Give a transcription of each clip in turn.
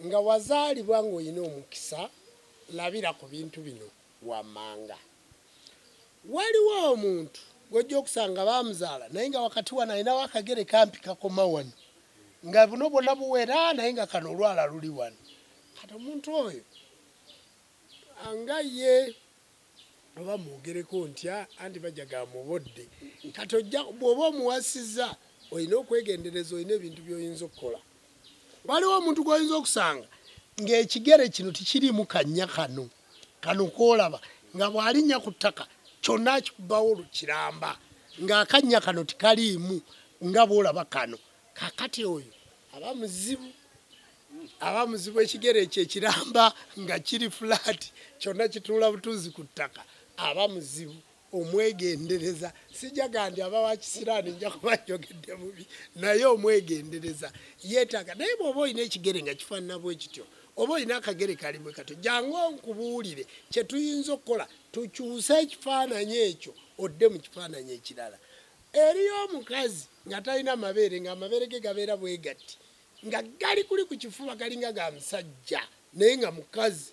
Nga wazaalibwa ng'olina omukisa, labira ku bintu bino wammanga. Waliwo omuntu gw'ojja okusanga baamuzaala naye nga wakati wano alinawo akagere kampi kakoma wano nga buno bwonna buwera naye nga kano olwala luli wano. Kati omuntu oyo nga ye Oba mwogereko ntya anti bajja ga mubodde kati ojja bwoba omuwasiza olina okwegendereza olina ebintu byoyinza okukola waliwo omuntu gwoyinza okusanga ng'ekigere kino tikiriimu kannya kano kano koolaba nga bw'alinnya ku ttaka kyonna akikubawo kiramba ng'akannya kano tikaliimu nga bw'olaba kano kakati oyo aba muzibu aba muzibu ekigere ekyo ekiramba nga kiri fulaati kyonna kituula butuuzi ku ttaka aba muzibu omwegendereza sijaga nti aba wa kisiraani nja kuba njogedde bubi naye omwegendereza yeetaaga naye bw'oba olina ekigere nga kifaanana bwe kityo oba olina akagere kali bwe katyo jangu nkubuulire kye tuyinza okukola tukyuse ekifaananyi ekyo odde mu kifaananyi ekirala eriyo omukazi nga talina mabeere ng'amabeere ge gabeera bwegatti nga gali kuli ku kifuba galinga ga musajja naye nga mukazi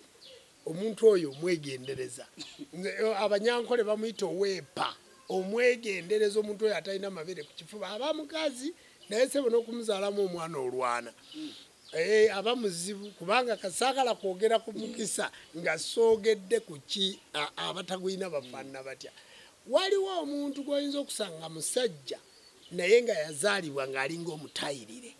omuntu oyo omwegendereza eh, abanyankole bamuyita oweepa omwegendereza omuntu oyo atalina mabere ku kifuba aba mukazi naye sebo n'okumuzaalamu omwana olwana eh, aba muzibu kubanga kasaagala kwogera ku mukisa nga soogedde ku ki abatagulina bafaanana batya waliwo omuntu gw'oyinza okusanga musajja naye nga yazaalibwa ng'alinga omutayirire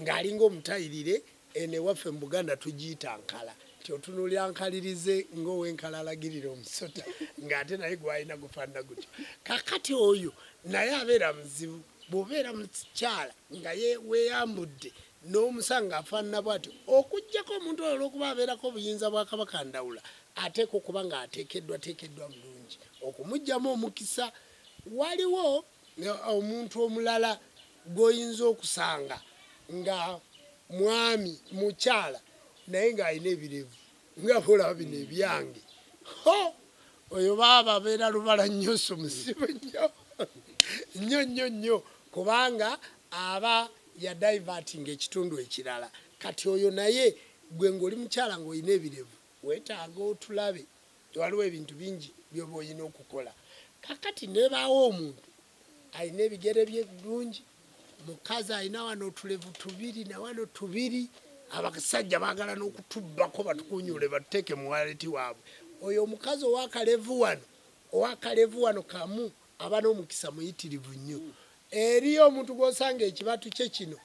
ng'alinga omutayirire eno ewaffe mu Buganda tugiyita nkala nti otunuulira nkalirize ng'owenkala alagirira omusota ng'ate naye gwalina gufaanana gutyo kakati oyo naye abeera muzibu bw'obeera mukyala nga weyambudde n'omusanga afaanana bwatyo okugyako omuntu oyo olw'okuba abeerako obuyinza bwa Kabaka Ndawula ateekwa okuba ng'ateekeddwateekeddwa bulungi okumugyamu omukisa Waliwo omuntu omulala gw'oyinza okusanga nga mwami, mukyala naye ng'alina ebirevu nga bw'olaba bino ebyange. Ho! Oyo baaba abeera lubala nnyo, so musiru nnyo nnyo nnyo nnyo kubanga aba yadaivatinga ekitundu ekirala. Kati oyo naye ggwe ng'oli mukyala ng'olina ebirevu weetaaga otulabe. Waliwo ebintu bingi byoba oyina okukola kakati nebaawo omuntu alina ebigere bye bulungi mukazi alina wano otulevu tubiri nawano tubiri abasajja bagala nokutubbako batukunyule batuteeke muwaleti waabwe oyo omukazi owakalevu wano owakalevu wano kamu aba n'omukisa muyitirivu nnyo eriyo omuntu gwosanga ekibatu kye kino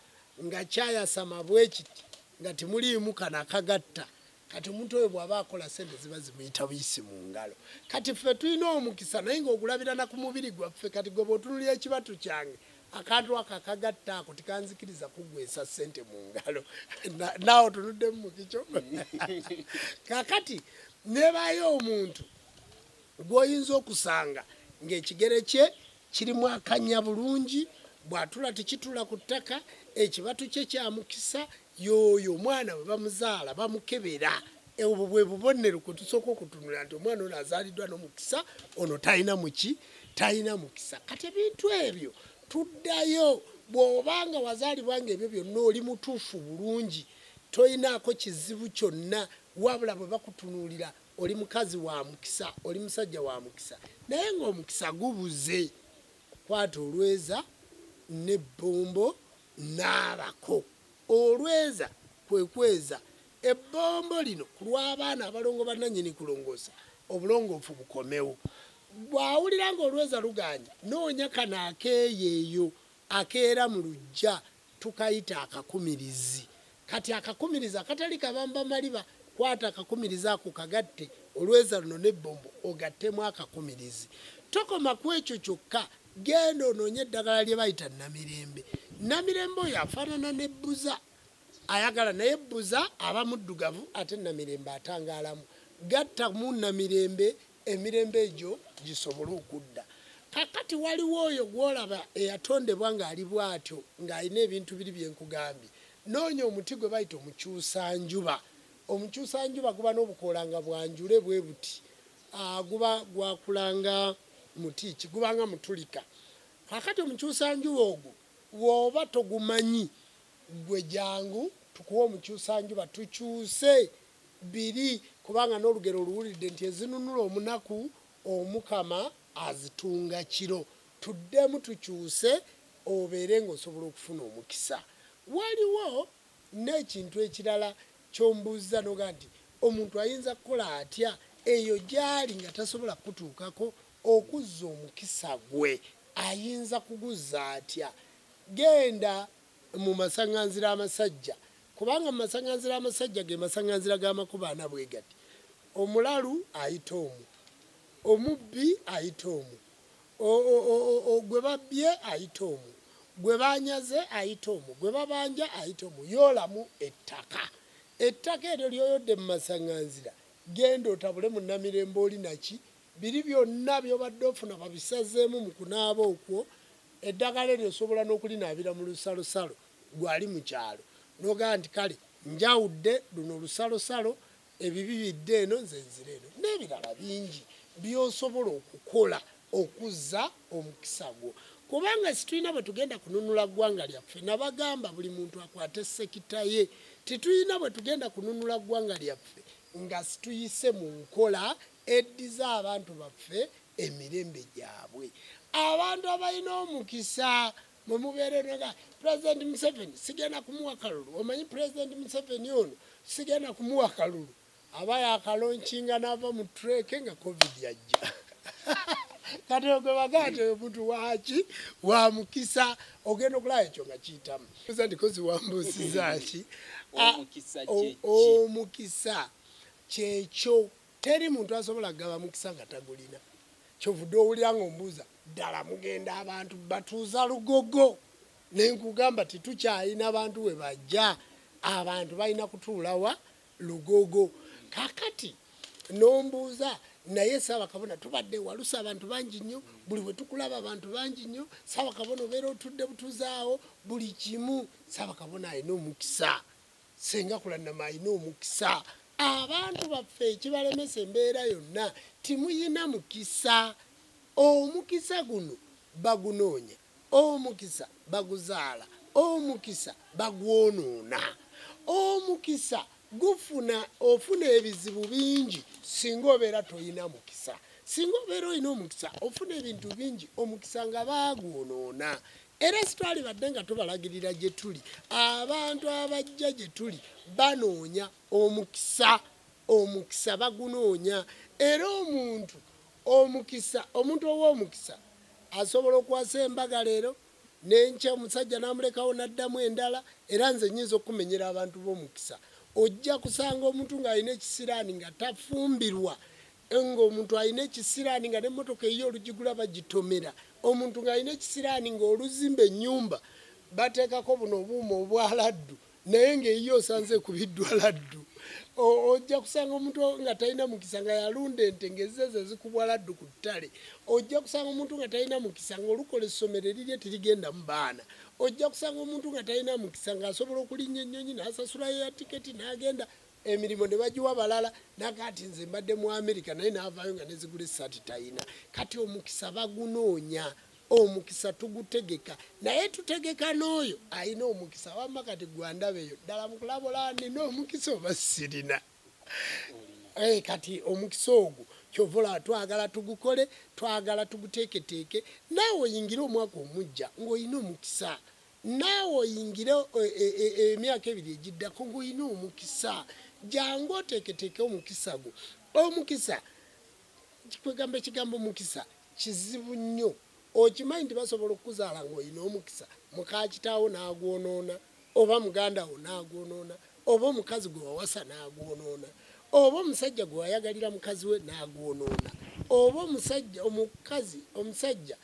nga kyayasama bwekiti nga timuliimu kano akagatta Kati omuntu oyo bwaba akola sente ziba zimuyita buyisi mu ngalo. Kati ffe tulina omukisa naye nga ogulabira na ku mubiri gwaffe. Kati gwe bw'otunulira ekibatu kyange, akantu ako akagatta ako tekanzikiriza kuggweesa sente mu ngalo. Naawe otunuddemu mu kikyo. Kakati nebaayo omuntu gw'oyinza okusanga ng'ekigere kye kirimu akannya bulungi, bw'atula tekitula ku ttaka, ekibatu kye kya mukisa, Yooyo omwana bwe bamuzaala bamukebera. Obwo bwe bubonero kwe tusooka okutunula nti omwana ono azaaliddwa n'omukisa, ono talina muki, talina mukisa. Kati ebintu ebyo tuddayo, bw'oba nga wazaalibwa nga ebyo byonna oli mutuufu bulungi, tolinaako kizibu kyonna, wabula bwe bakutunuulira oli mukazi wa mukisa, oli musajja wa mukisa, naye ng'omukisa gubuze, kwata olweza ne bbombo Naabako. Olweza kwe kweza ebbombo lino ku lw'abaana abalongo bannannyini kulongoosa obulongoofu bukomewo. Bw'awulira ng'olweza lugaanyi, noonya kano akeeyeeyo akeera mu luggya tukayita akakumirizi. Kati akakumirizi akatali kabamba maliba, kwata akakumirizi ako kagatte olweza luno n'ebbombo ogattemu akakumirizi. Tokoma ku ekyo kyokka Genda onoonye eddagala lye bayita Namirembe. Namirembe oyo afaanana ne Bbuza. Ayagala naye Bbuza aba muddugavu ate Namirembe atangaalamu. Gattamu Namirembe emirembe egyo gisobole okudda. Kaakati waliwo oyo gw'olaba eyatondebwa ng'ali bw'atyo ng'alina ebintu biri bye nkugambye. Noonya omuti gwe bayita omukyusanjuba. Omukyusanjuba guba n'obukoola nga bwa njule bwe buti. Aa, guba gwakula nga muti ki? Guba nga mutulika. Kaakati omukyusa-njuba ogwo, bw'oba togumanyi, ggwe jangu tukuwe omukyusa-njuba, tukyuse biri, kubanga n'olugero oluwulidde nti, Ezinunula omunaku, Omukama azitunga kiro. Tuddemu tukyuse, obeere nga osobola okufuna omukisa. Waliwo N'ekintu ekirala ky'ombuuzza n'ogamba nti, Omuntu ayinza kukola atya eyo gy'ali nga tasobola kukutuukako? Okuzza omukisa gwe ayinza kuguzza atya? Genda mu masaŋŋanzira amasajja, kubanga mu masaŋŋanzira amasajja ge masaŋŋanzira g'amakubo ana bwe gati, Omulalu ayita omwo, omubbi ayita omwo, O-o-o-o-o, gwe babbye ayita omu, gwe baanyaze ayita omu, gwe babanja ayita omu. Yoolamu ettaka. Ettaka eryo ly'oyodde mu masaŋŋanzira, genda otabule mu Namirembe oli na ki? Biri byonna by'obadde ofuna babisazeemu mu kunaaba okwo. Eddagala eryo osobola n'okulinaabira mu lusalosalo, ggwe ali mu kyalo n'ogamba nti, Kale, njawudde luno lusalosalo ebibi bidde eno nze nzire eno n'ebirala bingi by'osobola okukola okuzza omukisa gwo kubanga situlina bwe tugenda kununula ggwanga lyaffe nabagamba buli muntu akwate sekita ye titulina bwe tugenda kununula ggwanga lyaffe nga situyise mu nkola eddiza abantu baffe emirembe gyabwe abantu abalina omukisa mwe mubeere noga pulezidenti museveni sigenda kumuwa kalulu omanyi pulezidenti museveni ono sigenda kumuwa kalulu aba yakalonkinga naava mu treke nga covid yajja kati ogwe bagati oyo muntu waki wa mukisa ogenda okulaba ekyo nga kiyitamu oza nti kozi wambuusizaki omukisa kyekyo Teri muntu asobola kugaba mukisa nga tagulina. Kyovude owulira nga ombuuza ddala mugenda abantu batuuza lugogo? Nenkugamba ti tukyalina bantu webajja. Abantu balina kutuula wa? Lugogo. Kakati nombuuza naye Ssabakabona tubadde ewalusa abantu bangi nnyo, buli wetukulaba abantu bangi nnyo. Ssabakabona obeera otudde butuzi awo buli kimu. Ssabakabona alina omukisa Ssenga Kulanama alina omukisa. Abantu baffe ekibalemesa embeera yonna timuyina mukisa. Omukisa guno bagunoonya, omukisa baguzaala, omukisa bagwonoona. Omukisa gufuna, ofuna ebizibu bingi singa obeera toyina mukisa. Singa obeera olina omukisa ofuna ebintu bingi, omukisa nga baagwonoona. Era sitwalibadde nga tubalagirira gye tuli, abantu abajja gye tuli banoonya omukisa, omukisa bagunoonya. Era omuntu omukisa, omuntu ow'omukisa asobola okwasa embaga leero, n'enkya omusajja n'amulekawo n'addamu endala, era nze nnyinza okukumenyera abantu b'omukisa. Ojja kusanga omuntu ng'alina ekisiraani nga tafumbirwa, Enga omuntu alina ekisiraani nga ne motoka eyiye olujigula bajitomera omuntu nga alina ekisiraani nga oluzimba enyumba batekako buno obuuma obwa laddu naye nga eyiye osanze ekubiddwa laddu ojja kusanga omuntu nga talina mukisa nga yalunda ente nga ezze zezikubwa laddu ku ttale ojja kusanga omuntu nga talina mukisa nga olukola essomero erirye tirigendamu baana ojja kusanga omuntu nga talina mukisa nga asobola okulinnya ennyonyi nasasulayo ya tiketi nagenda emirimu ne bagiwa balala naga nti nze mbadde mu Amerika naye n'avaayo nga nezigula essaati talina kati omukisa bagunoonya omukisa tugutegeka naye tutegeka n'oyo alina omukisa wamma kati gwandaba eyo ddala mukulabula nina omukisa oba sirina eh, kati omukisa ogwo kyovola twagala tugukole twagala tuguteeketeeke naawe oyingire omwaka omujja ng'olina omukisa Naawe oyingire emyaka ebiri egiddako ng'olina omukisa. Jangu oteeketeeke omukisa gwo. Omukisa, kwegamba ekigambo mukisa kizibu nnyo. Okimanyi nti basobola okukuzaala ng'olina omukisa, mukaakitaawo n'agwonoona oba muganda wo n'agwonoona oba omukazi gwe wawasa n'agwonoona oba omusajja gwe wayagalira mukazi we n'agwonoona oba omusajja omukazi omusajja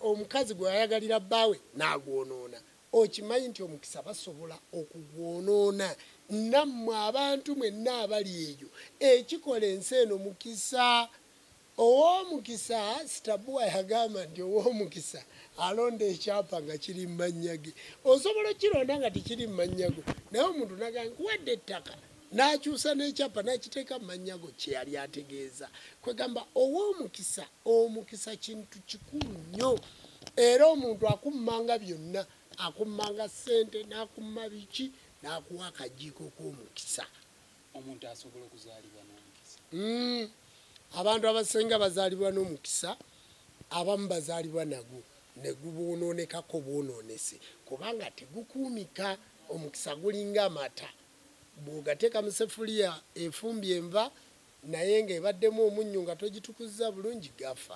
omukazi gwe wayagalira bbaawe n'agwonoona okimanyi nti omukisa basobola okugwonoona nammwe abantu mwenna abali eyo ekikola ensi eno mukisa Owoomukisa Stabua yagamba nti owoomukisa alonda ekyapa nga kiri mu mannya ge. Osobola okukironda nga tekiri mu mannya go naye omuntu n'agamba nkuwadde ettaka n'akyusa n'ekyapa n'akiteeka mu mannya go kye yali ategeeza. Kwegamba owoomukisa, omukisa kintu kikulu nnyo era omuntu akummanga byonna, akummanga ssente n'akumma biki n'akuwa akajiiko k'omukisa. omuntu asobola okuzaalibwa n'omukisa? Hmm, abantu abasinga bazaalibwa n'omukisa, abamu bazaalibwa nagwo ne guboononekako bwonoonese kubanga tegukuumika. Omukisa gulinga amata, bw'ogateeka mu sefuliya efumbye enva naye ng'ebaddemu omunnyu nga togitukuzza bulungi gafa.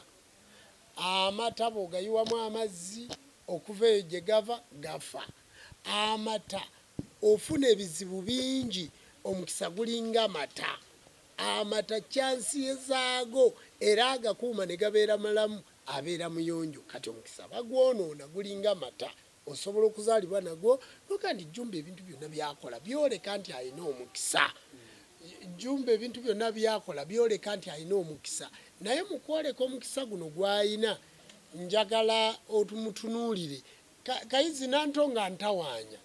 Amata bw'ogayiwamu amazzi okuva eyo gye gava gafa. Amata Ofuna ebizibu bingi omukisa gulinga mata. Amata chance ye zaago era agakuuma ne gabeera malamu abeera muyonjo kati omukisa bagwonoona gulinga mata osobola okuzaalibwa nagwo noga nti Jumba ebintu byonna byakola byoleka nti alina omukisa Jumba ebintu byonna byakola byoleka nti alina omukisa naye mukwoleka omukisa guno gwalina njagala otumutunuulire Kayizzi Nantonga ntawaanya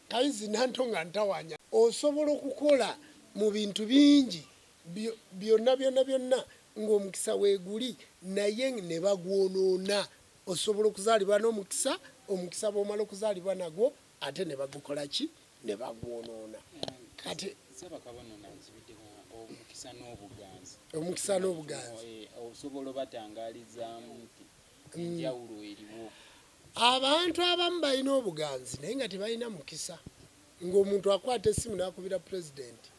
Kayizzi Nantonga ntawaanya osobola okukola mu bintu bingi byonna byonna byonna ng'omukisa weeguli naye ne bagwonoona osobola okuzaalibwa n'omukisa omukisa bw'omala okuzaalibwa nagwo ate ne bagukola ki ne bagwonoona kati omukisa n'obuganzi eh, osobola obatangaalizaamu nti abantu abamu balina obuganzi naye nga tebalina mukisa ng'omuntu akwata essimu n'akubira pulezidenti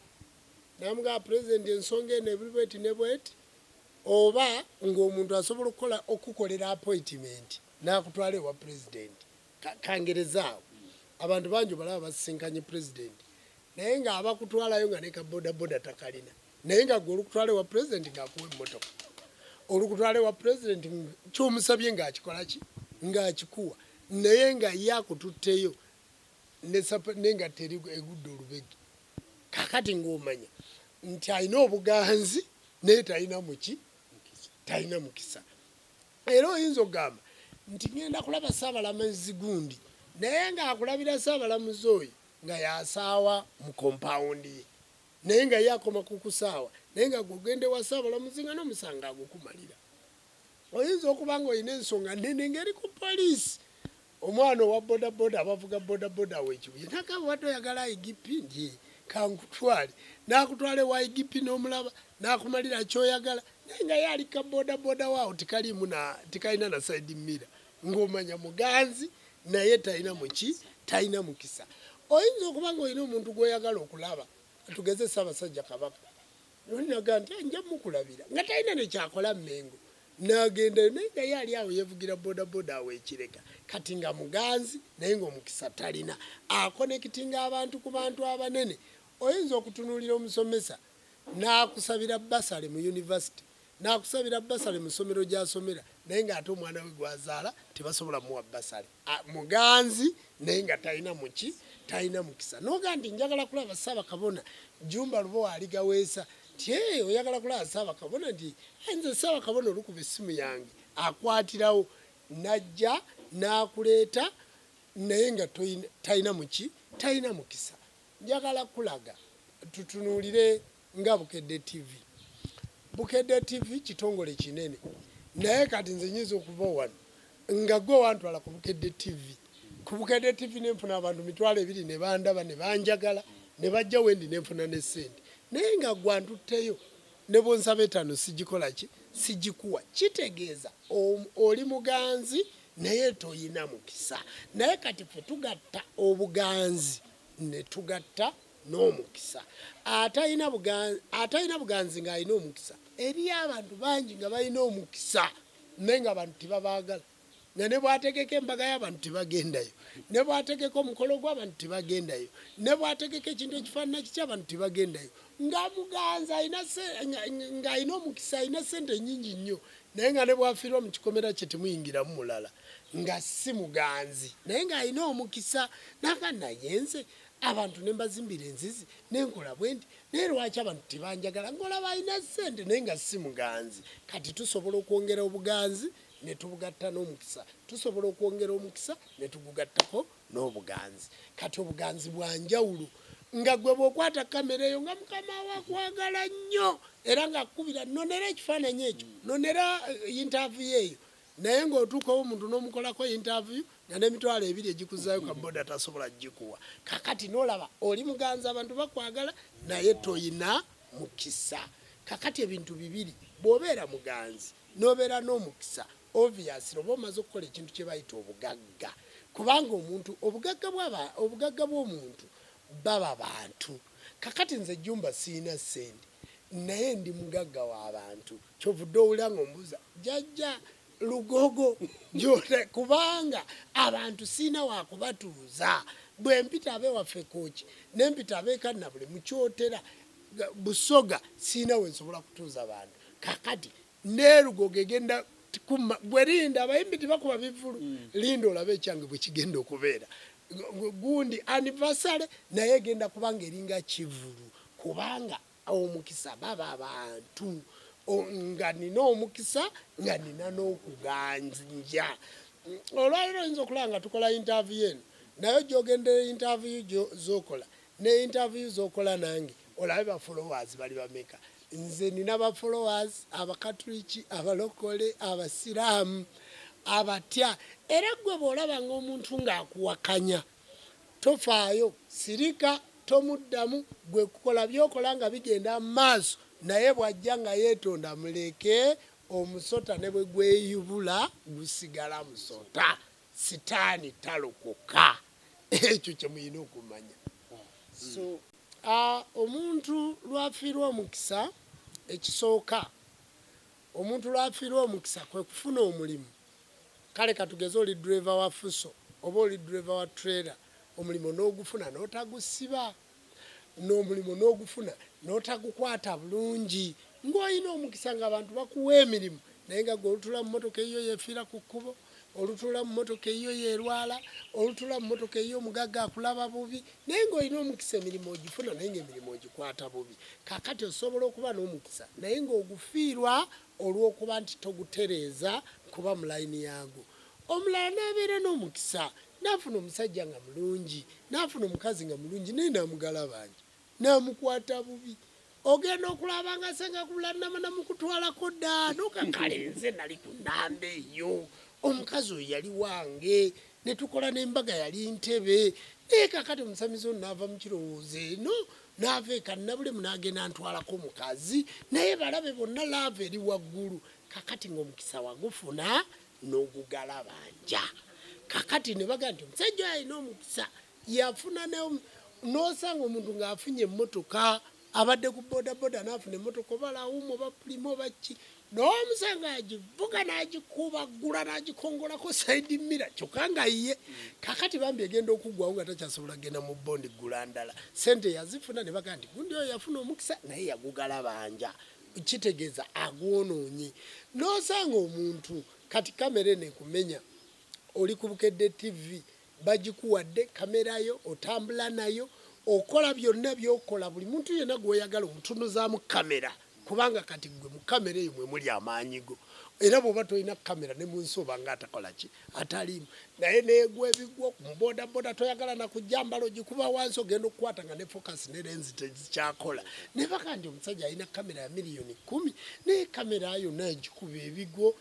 namugamba pulezidenti ensonga eno ebuli bweti ne bweti oba ng'omuntu asobola okukola okukukolera apoyitimenti n'akutwala ewa pulezidenti kangerezaawo abantu bangi obalaba basisinkanye pulezidenti naye ng'abakutwalayo nga ne ka bodaboda takalina naye nga gwe olukutwala ewa pulezidenti ng'akuwa emmotoka olukutwala ewa pulezidenti kyomusabye ng'akikola ki ng'akikuwa naye nga ye akututteyo nengatta eri egudde olubegi kakati ng'omanya nti alina obuganzi naye talina muki talina mukisa era oyinza okugamba nti ŋenda kulaba saabalamazi gundi naye ng'akulabira saabalamuzi oyo nga yasaawa mu kompawundi ye Naye nga ye akoma ku kusaawa naye nga gwe ogenda ewa Ssaabalamuzi nga n'omusango agukumalira. Oyinza okuba nga olina ensonga nnene ng'eri ku poliisi. Omwana owa bodaboda abavuga bodaboda awo e Kibuye n'agamba obadde oyagala IGP nti ee kankutwale n'akutwala ewa IGP n'omulaba n'akumalira ky'oyagala naye nga ye ali ku kabodaboda we awo tekaliimu na tekalina na side mirror. ng'omanya muganzi naye talina muki talina mukisa oyinza okuba ng'olina omuntu gw'oyagala okulaba tugeze ssaabasajja kabaka nolinaga nti nja mukulabira nga talina nekyakola mmengo nagendayo naye nga ye ali awo yevugira bodaboda awo ekireka kati nga muganzi naye ngaomukisa talina akonekitinga abantu ku bantu abanene oyinza okutunuulira omusomesa n'akusabira basale mu yunivasite Nakusabira bbasale mu ssomero gy'asomera naye ng'ate omwana we gw'azaala tebasobola muwa bbasale. Muganzi naye nga talina muki talina mukisa. N'ogamba nti njagala kulaba Ssaabakabona, Jjumba Lubowa aligaweesa nti hee oyagala kulaba Ssaabakabona nti hee nze Ssaabakabona olukuba essimu yange akwatirawo n'ajja n'akuleeta naye nga talina muki talina mukisa. Njagala kulaga tutunuulire. nga Bukedde TV. Bukedde TV kitongole kinene naye kati nze nyinza okuva wano nga gwe wantwala ku Bukedde TV. Ku Bukedde TV nenfuna abantu mitwalo ebiri ne bandaba ne banjagala ne bajja wendi nenfuna ne sente naye nga gwe antutteyo ne bwonsaba etano sijikola ki sijikuwa kitegeeza oli muganzi naye toyina mukisa naye kati fe tugatta obuganzi ne tugatta n'omukisa atalina buganzi ng'alina omukisa. Eriyo abantu bangi nga balina omukisa naye ng'abantu tebabaagala, nga ne bw'ategeka embaga y'abantu tebagendayo, ne bw'ategeka omukolo gw'abantu tebagendayo, ne bw'ategeka ekintu ekifaanana kiti abantu tebagendayo. Nga muganzi ng'alina omukisa, alina ssente nnyingi nnyo naye nga ne bw'afiirwa mu kikomera kye temuyingiramu mulala nga si muganzi naye ng'alina omukisa. Naga naye nze abantu ne mbazimbira enzizi ne nkola bwe nti naye lwaki abantu tebanjagala ng'olaba alina ssente naye nga si muganzi kati tusobola okwongera obuganzi ne tubugatta n'omukisa tusobola okwongera omukisa ne tugugattako n'obuganzi kati obuganzi bwa njawulo nga gwe bw'okwata kamera eyo nga mukama wakwagala nnyo era ng'akukubira nonera ekifaananyi ekyo nonera eh, yintaavuyo eyo Naye nga otuuka omuntu nomukolako interview nga nemitwalo ebiri egikuzayo ka boda tasobola gikuwa kakati nolaba oli muganzi abantu bakwagala naye toyina mukisa kakati ebintu bibiri bwobeera muganzi nobeera nomukisa obviously oba omaze okukola ekintu kyebayita obugagga kubanga omuntu obugagga bwomuntu baba bantu. Kakati nze Jumba siyina sente naye ndi mugagga wa bantu kyovudde owulira nga ombuza jajja lugogo jole kubanga abantu siyina wakubatuuza bwempita abewaffe koki nempita abekanabule mukyotera busoga siyina wensobola kutuuza bantu kakati nelugogo egenda kuma gwe linda abayimbi tibakuba bivulu mm. linda olabe ekyange bwekigenda okubeera gundi anniversary naye egenda kubanga eringa kivulu kubanga omukisa baba abantu nga nina omukisa nga nina n'okuganja olwaliro oyinza okulaba nga tukola interview eno naye ojogendera interview zokola Ne interview zokola nange olabe ba followers bali bameka nze nina ba followers abakatuliki abalokole abasiramu abatya era gwe bwolaba nga omuntu nga akuwakanya tofaayo sirika tomuddamu gwe kukola byokola nga bigenda maaso naye bwajja nga yetonda muleke omusota ne bwe gweyubula gusigala musota. Sitaani talokoka. Ekyo kye mulina okumanya. So, a, omuntu lw'afiirwa omukisa, ekisooka omuntu lw'afiirwa omukisa kwe kufuna omulimu. Kale ka tugeze oli ddereeva wa Fuso oba oli ddereeva wa trailer, omulimu n'ogufuna n'otagusiba. n'omulimu n'ogufuna n'otagukwata bulungi ng'olina omukisa ng'abantu bakuwa emirimu naye nga gwe olutula mu motoka eyiyo yefiira ku kkubo olutula mu motoka eyiyo yerwala olutula mu motoka eyiyo omugagga akulaba bubi naye ng'olina omukisa emirimu ogifuna naye ng'emirimu ogikwata bubi kakati osobola okuba n'omukisa naye ng'ogufiirwa olw'okuba nti togutereeza kuba mu layini yaago omulala n'abeera n'omukisa Nafuna omusajja nga mulungi, nafuna omukazi nga mulungi naye namugalabanja, namukwata bubi. Ogenda okulaba nga senga kulanama namukutwalako dda noka kale nze nali ku namba eyo, omukazi oyo yali wange netukola nembaga yali ntebe naye kakati omusamize ono nava mukirowoozo eno nava eka nabulemu nagenda ntwalako omukazi naye balabe bonna laava eri waggulu kakati nga omukisa wagufuna n'ogugalabanja kakati ne bagamba nti omusajja oyo alina omukisa yafuna n'osanga omuntu ng'afunye emmotoka abadde ku bodaboda n'afuna emmotoka oba lawumu oba pulima oba ki n'omusanga agivuga n'agikubaggula n'agikongolako saidi mira kyokka nga ye kakati bambi egenda okuggwawo nga takyasobola kugenda mu bondi ggula ndala sente yazifuna ne bagamba nti gundi oyo yafuna omukisa naye yagugala banja kitegeza agwonoonye nosanga omuntu kati kamera eno ekumenya oli ku Bukedde TV bagikuwadde kamera yo otambula nayo okola byonna byokola buli muntu yenna gwoyagala omutunuzaamu kamera kubanga kati gwe mu kamera eyo mwe muli amaanyi go era bwoba tolina kamera ne munsi obanga atakola ki ataliimu naye negwa ebigwo mubodaboda toyagala nakujja mbala ogikuba wansi ogenda okukwata nga ne focus ne lenzi tezikyakola nebaka nti omusajja alina kamera ya miliyoni kumi naye kamera yonna egikuba ebigwo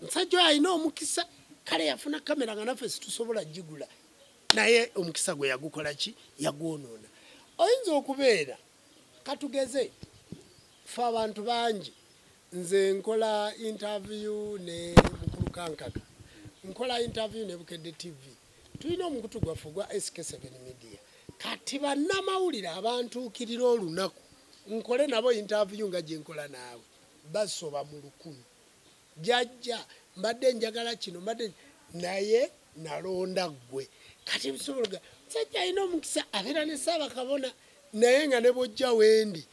omusajja oyo alina omukisa kale yafuna kamera nga naffe situsobola gigula naye omukisa gwe yagukola ki yagwonoona oyinza okubeera katugeze fe abantu bangi Nze nkola interview ne mukulu Kankaka, nkola interview ne Bukedde TV. Tulina omukutu gwaffe ogwa SK7 Media. Kati bannamawulire abantuukirira olunaku nkole nabo interview nga gye nkola naawe basoba mu lukumi. Jajja mbadde njagala kino mbadde naye nalonda ggwe. Kati bisobola musajja alina omukisa abeera ne Ssaabakabona naye nga ne bwojja wendi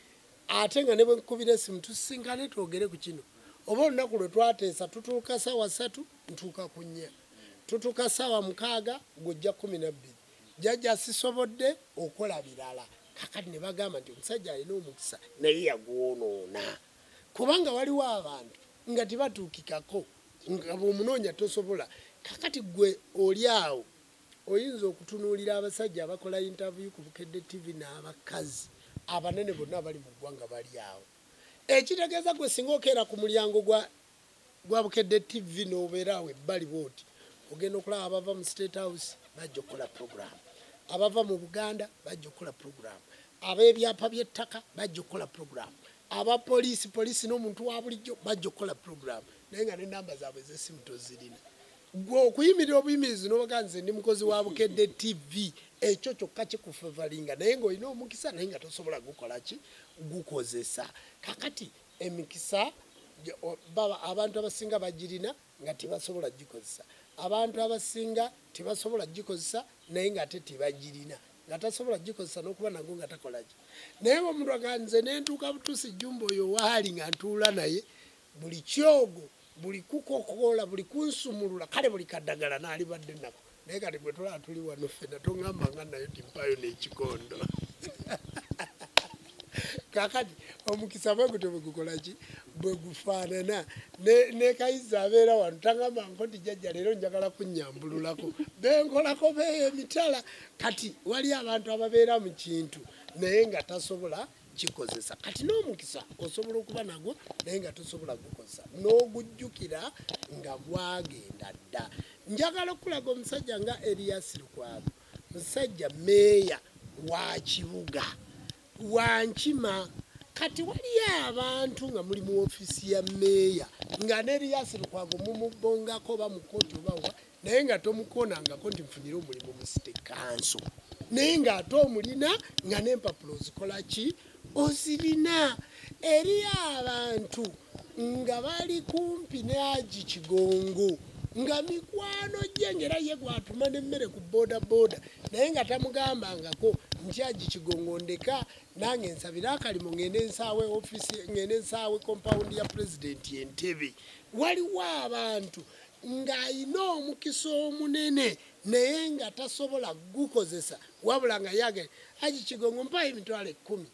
Ate nga ne bwe nkukubira essimu tusisinkane twogere ku kino oba olunaku lwe twateesa tutuuka ssaawa ssatu ntuuka ku nnya, tutuuka ssaawa mukaaga gwe ojja kkumi na bbiri. Jajja sisobodde okola birala. Kaakati ne bagamba nti omusajja alina omukisa naye yagwonoona kubanga waliwo abantu nga tebatuukikako nga bw'omunoonya tosobola. Kaakati ggwe oli awo Oyinza okutunuulira abasajja abakola yintaviyu ku Bukedde Ttivi n'abakazi abanene bonna abali mu ggwanga bali awo. Ekitegeeza ggwe singa okeera ku mulyango gwa gwa Bukedde Ttivi n'obeera awo ebbali bw'oti, ogenda okulaba abava mu State House bajja okukola pulogulaamu, abava mu Buganda bajja okukola pulogulaamu, ab'ebyapa by'ettaka bajja okukola pulogulaamu, aba poliisi, poliisi n'omuntu wa bulijjo bajja okukola pulogulaamu naye nga n'ennamba zaabwe ez'essimu tozirina. Gwe okuyimirira obuyimirizi nobaga nze ndi mukozi wa Bukedde TV ekyo kyokka kikufevalinga naye nga olina omukisa naye nga tosobola gukola ki gukozesa kakati emikisa baba abantu abasinga bagirina nga tebasobola gikozesa abantu abasinga tebasobola gikozesa naye nga ate tebagirina nga tasobola gikozesa nokuba nago nga takolaki naye omuntu aga nze nentuuka butuusi jumba oyo waali nga ntuula naye Buli kyogo, buli kukokoola, buli kunsumulula, kale buli kadagala nalibadde nako naye kati gwe tulaba tuli wano ffena tongamba nga nayo ti mpaayo n'ekikondo kakati omukisa bwe gutyo bwe gukola ki bwe gufaanana nekayizza abeera wano tangamba nko ti jajja leero njagala kunyambululako benkolako beeyo emitala kati wali abantu ababeera mu kintu naye nga tasobola kikozesa kati n'omukisa osobola okuba nagwo naye nga tosobola gukozesa n'ogujjukira nga gwagenda dda njagala okukulaga omusajja nga eliyasi lukwago musajja meeya wa kibuga wankima kati waliyo abantu nga muli mu ofiisi ya meeya nga n'eliyasi lukwago mumubbongako oba mu kooti obawa naye nga tomukonangako nti nfunire omulimu mu site kanso naye ng'ate omulina nga n'empapula ozikola ki ozirina eri abantu nga bali kumpi ne agi kigongo nga mikwano gye ngaera ye gwatuma nemmere ku bodaboda naye nga tamugambangako nti agi kigongo ndeka nange nsabire akalimu ngende nsaawe ofisi ngende nsaawe kompawundi ya pulezidenti entebe waliwo abantu ng'alina omukisa omunene naye nga tasobola kugukozesa wabula nga yagenda Haji Kigongo mpaayo emitwalo ekkumi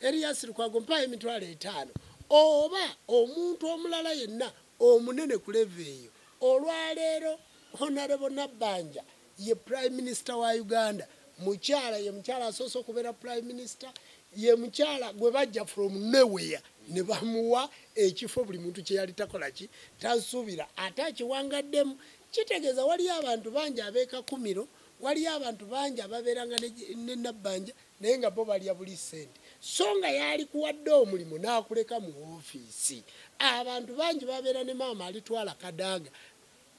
Erias Lukwago mpaayo emitwalo etaano oba omuntu omulala yenna omunene ku levo eyo olwaleero Honarebo Nabbanja Ye Prime Minister wa Uganda mukyala, ye mukyala asoose okubeera Prime Minister, ye mukyala gwe bajja from nowhere ne bamuwa ekifo buli muntu kye yali takola ki, tasuubira ate akiwangaddemu. Kitegeeza waliyo abantu bangi ab'e Kakumiro, waliyo abantu bangi ababeeranga ne ne Nabbanja naye nga bo balya buli ssente so nga yaalikuwadde omulimu n'akuleka mu woofiisi. Abantu bangi babeera ne maama alitwala Kadaga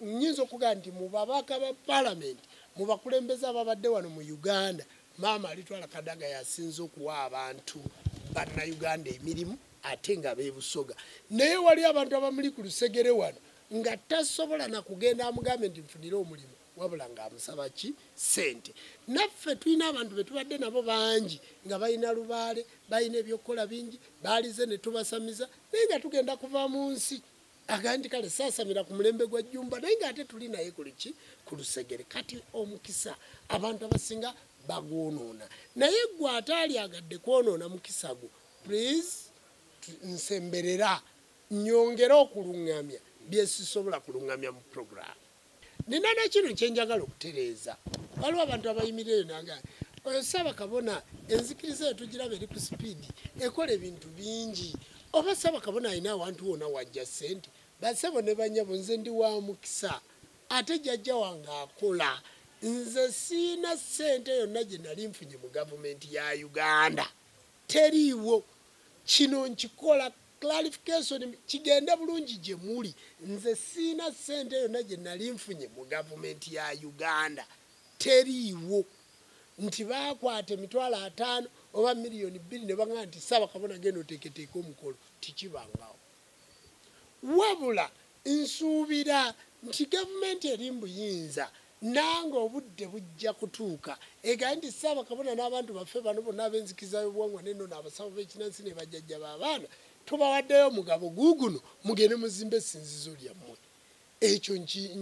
Nnyinza okugamba nti mu babaka ba Palamenti, mu bakulembeze ababadde wano mu Uganda, maama Alitwala Kadaga y'asinze okuwa abantu Bannayuganda emirimu ate nga b'e Busoga. Naye waliyo abantu abamuli ku lusegere wano nga tasobola na kugenda amugambe nti nfunire omulimu wabula ng'amusaba ki? Ssente. Naffe tulina abantu be tubadde nabo bangi nga balina lubaale, balina eby'okukola bingi, baalize ne tubasamiza naye nga tugenda kuva mu nsi. Agambye nti kale saasamira ku mulembe gwa Jjumba naye ng'ate tuli naye kuliki ku lusegere kati omukisa abantu abasinga bagwonoona naye gwe ataalyagadde kwonoona mukisa gwo please nsemberera nyongere okulungamya byesisobola kulungamya mu programu. Nina na kino kye njagala okutereeza. Waliwo abantu abayimirira eyo nanga oyo saba kabona enzikiriza eyo tugiraba eri ku sipiidi ekola ebintu bingi oba saba kabona alina awantu wona wajja ssente basebo ne banyabo nze ndi wa mukisa ate jajja wange akola nze siina ssente yonna gye nali nfunye mu gavumenti ya uganda Teriiwo. Kino nkikola clarification kigende bulungi gye muli. Nze sirina ssente yonna gye nali nfunye mu gavumenti ya Uganda. Teriiwo nti baakwata emitwalo ataano oba million bbiri ne bangamba nti Ssaabakabona genda oteeketeeke omukolo. Tekibangawo. Wabula nsuubira nti gavumenti eri mu buyinza nange obudde bujja kutuuka egaanye nti Ssaabakabona n'abantu baffe bano bonna ab'enzikiriza y'obuwangwa n'ennono, abasawo b'ekinnansi ne bajjajja b'abaana tubawaddeyo omugabo guuguno mugende muzimbe essinzizo lyammwe. Ekyo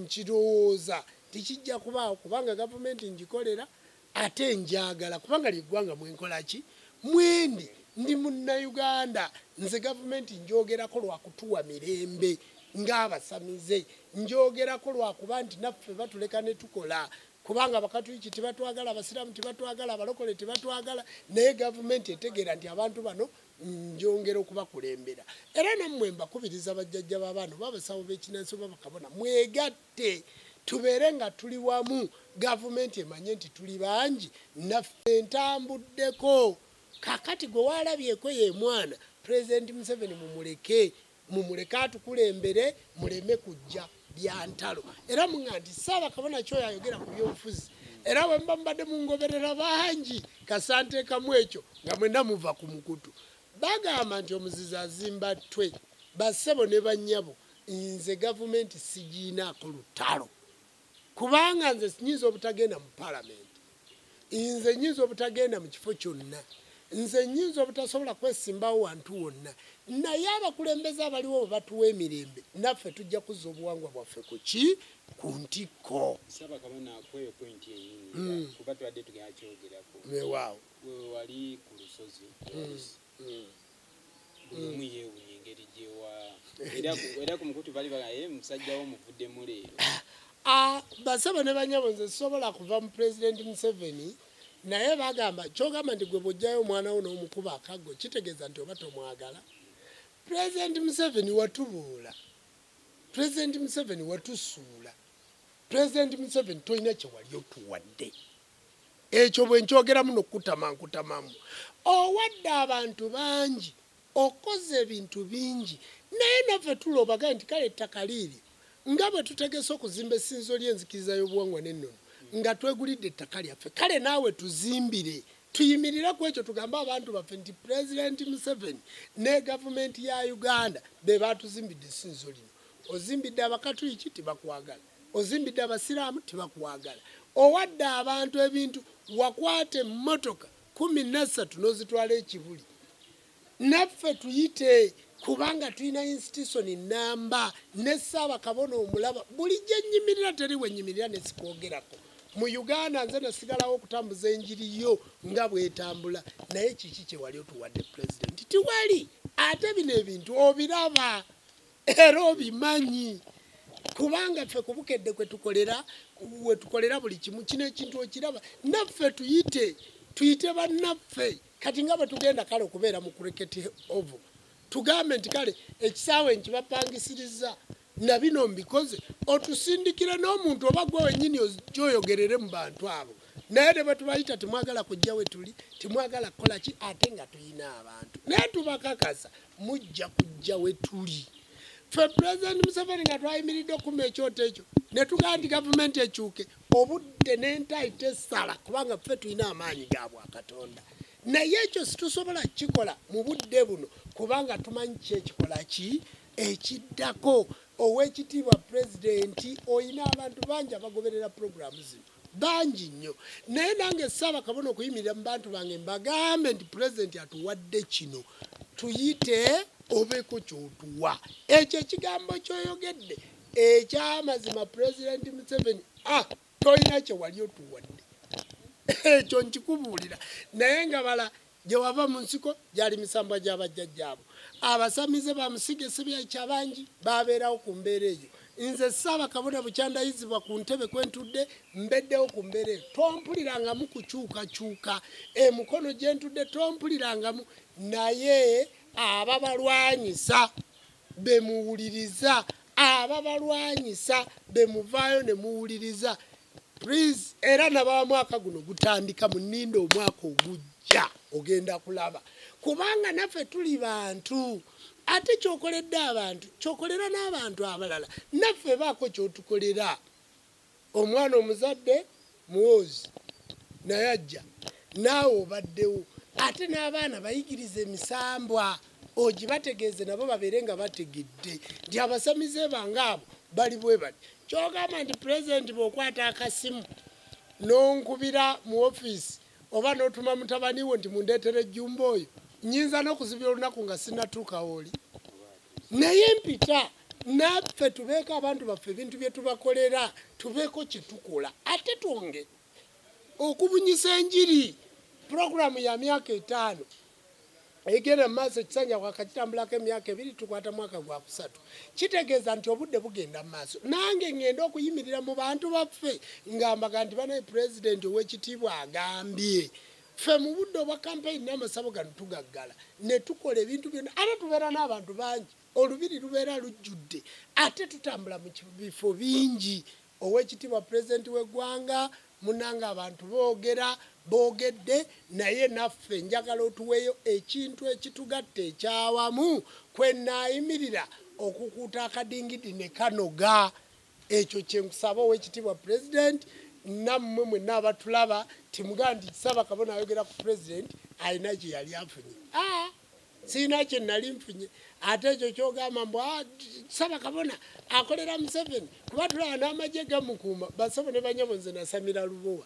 nkirowooza nti kijja kubaawo kubanga gavumenti ngikolera Ate njaagala kubanga lye ggwanga mwe nkola ki? Mwendi, ndi Munnayuganda. Nze Gavumenti njoogerako lwa kutuwa mirembe ng'abasamize. Njoogerako lwa kuba nti naffe batuleka ne tukola kubanga Abakatuliki tebatwagala, Abasiraamu tebatwagala, Abalokole tebatwagala naye Gavumenti etegeera nti abantu bano njongera okubakulembera. Era nammwe mbakubiriza bajjajja b'abaana oba abasawo b'ekinnansi oba bakabona mwegatte. Te tubeere nga tuli wamu gavumenti emanye nti tuli bangi naffe ntambuddeko kakati gwe walabyeko yemwana president museveni mumuleke mumuleke atukulembere muleme kujja byantalo era munga nti ssabakabona kyoyo ayogera ku byobufuzi era bwemuba mubadde mungoberera bangi kasantekamu ekyo nga mwena muva ku mukutu bagamba nti omuzizi azimba ttwe bassebo ne banyabo Nze gavumenti sigiinaako lutalo kubanga nze nyinza obutagenda mu palamenti, nze nyinza obutagenda mu kifo kyonna, nze nyinza obutasobola kwesimbawo wantu wonna, naye abakulembeze abaliwo bwe batuwa emirembe naffe tujja kuzza obuwangwa bwaffe ku ki ku ntikko. Ssaabakabona akweyo pointi yennyini mm. kuba tubadde tugenda kyogerako. Weewaawo. Wewe wali ku lusozi. Mm. buli omu yeewunya engeri gyewa era ku mukutu bali bagaye eh, musajja wo muvuddemu leero ah, basebo ne banyabo nze sisobola kuva mu pulezidenti museveni naye bagamba kyogamba nti gwe bwojjayo omwana wo n'omukuba akaggo kitegeeza nti oba tomwagala pulezidenti museveni watubuula pulezidenti museveni watusuula pulezidenti museveni tolina kyewali otuwadde ekyo bwe nkyogeramu n'okukutama nkutamamu. Owadde abantu bangi, okoze ebintu bingi naye naffe tula obagambye nti kale ettaka liiryo nga bwe tutegese okuzimba Essinzizo ly'Enzikiriza y'Obuwangwa n'Ennono nga twegulidde ettaka lyaffe kale naawe tuzimbire tuyimirire ku ekyo tugambe abantu baffe nti Pulezidenti Museveni ne Gavumenti ya Uganda be baatuzimbidde Essinzizo lino. Ozimbidde Abakatuliki tebakwagala. Ozimbidde abasiraamu tebakwagala, owadde abantu ebintu, wakwata emmotoka kkumi nassatu nozitwala e Kibuli, naffe tuyite kubanga tulina yinsitisoni nnamba ne Ssaabakabona omulaba, buli gyennyimirira teri wennyimirira ne sikwogerako, mu Uganda nze nasigalawo okutambuza enjiri yo nga bwetambula, naye kiki kyewali otuwadde Pulezidenti? Tiwali, ate bino ebintu obiraba. era obimanyi kubanga ffe ku bukedde kwetukolera wetukolera buli kimu kino ekintu okiraba naffe tuyite tuyite bannaffe kati nga bwetugenda kale okubeera mu cricket oval tugambe nti kale ekisaawe nkibapangisiriza na bino mbikoze otusindikire n'omuntu oba gwe wenyini oyogerere mu bantu abo naye ne bwetubayita temwagala kujja wetuli temwagala kukola ki ate nga tulina abantu naye tubakakasa mujja kujja wetuli fe president museveni nga twayimiridde okuma ekyoto ekyo netugaa nti gavumenti ekyuke obudde nentayi tesala kubanga fe tulina amaanyi ga bwakatonda naye ekyo situsobola kukikola mu budde buno kubanga tumanyi ki ekikola ki ekiddako owekitiibwa pulezidenti olina abantu bangi abagoberera pulogulaamu zino bangi nnyo naye nange saaba kabona okuyimirira mu bantu bange mbagambe nti pulezidenti atuwadde kino tuyite obeeko kyotuwa ekyo ekigambo kyoyogedde ekyamazima pulezidenti museveni a ah, tolina kyewali otuwadde ekyo nkikubuulira naye nga bala Gye wava mu nsiko gyali misambwa gya bajjajjaabo. Abasamize ba Musige Ssebyaiki abangi baabeerawo ku mbeera eyo. Nze Ssaabakabona bukyandayizibwa ku ntebe kwe ntudde mbeddewo ku mbeera eyo. Tompulirangamu kukyukakyuka. E Mukono gye ntudde tompulirangamu naye ababalwanyisa. be muwuliriza ababalwanyisa be muvaayo ne muwuliriza please era nababa mwaka guno gutandika muninda omwaka ogujja ogenda kulaba kubanga naffe tuli bantu ate kyokoledde abantu kyokolera n'abantu abalala naffe baako kyotukolera Omwana omuzadde muwoozi naye ajja naawe obaddewo ate n'abaana bayigirize emisambwa ogibategeeze nabo babeere nga bategedde nti abasamize bange abo bali bwe bati. Ky'ogamba nti Pulezidenti bw'okwata akasimu n'onkubira mu ofiisi oba n'otuma mutabani wo nti mundeetere Jjumba oyo, nnyinza n'okuzibya olunaku nga sinnatuuka w'oli? naye mpita naffe tubeeko abantu baffe ebintu bye tubakolera tubeeko kye tukola ate twonge okubunyisa enjiri pulogulaamu ya myaka etaano egenda mu maaso ekisanja kwakakitambulako emyaka ebiri tukwata mwaka gwa kusatu kitegeeza nti obudde bugenda mu maaso nange ngenda okuyimirira mu bantu baffe ngamba ganti banaye pulezidenti ow'ekitiibwa agambye Ffe mu budde obwa kampeyini n'amasabo gano tugaggala ne tukola ebintu byonna ate tubeera n'abantu bangi, olubiri lubeera lujjudde ate tutambula mu bifo bingi. Oweekitiibwa Pulezidenti w'eggwanga, munnange abantu boogera boogedde naye naffe njagala otuweeyo ekintu ekitugatta eky'awamu kwe nnaayimirira okukuuta akadingidi ne kanoga Ekyo kyenkusaba owekitibwa president namwe mwena abatulaba timugaa nti kisaba kabona ayogera ku president alina kyeyali afunye aa sirina kyenali nfunye ate ekyo kyogamba mbu ah, saba kabona akolera museveni kuba tulaba n'amagye gamukuuma basebo ne banyabo nze nasamira lubowa